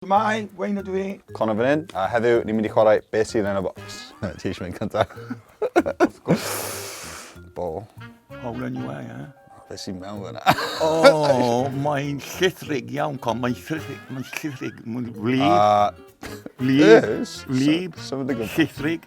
Shwmae, Wayne ydw i. Connor fan hyn, a heddiw ni'n mynd i chwarae beth sydd yn y bocs. Ti eisiau mynd cyntaf? Of course. Bol. O, wna ni wei, eh? Fe sy'n mewn fyna. o, mae'n llithrig iawn, con. Mae'n llithrig, mae'n llithrig, mae'n wlyb. A... Wlyb, wlyb, llithrig.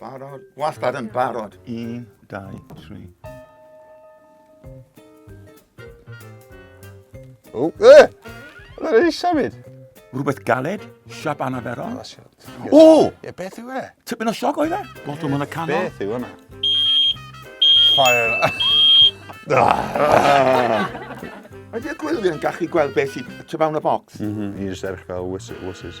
barod. Wastad yn barod. Un, dau, tri. O, e! Mae'n ei symud. Rhywbeth galed, siap anaferol. O! E, beth yw e? Tipyn o sioc oedd e? Lot o mynd y canol. Beth yw hwnna? Fire. Ydy'r gwylio'n gallu gweld beth sy'n tu fewn y bocs? Mhm, i jyst erch fel wysys.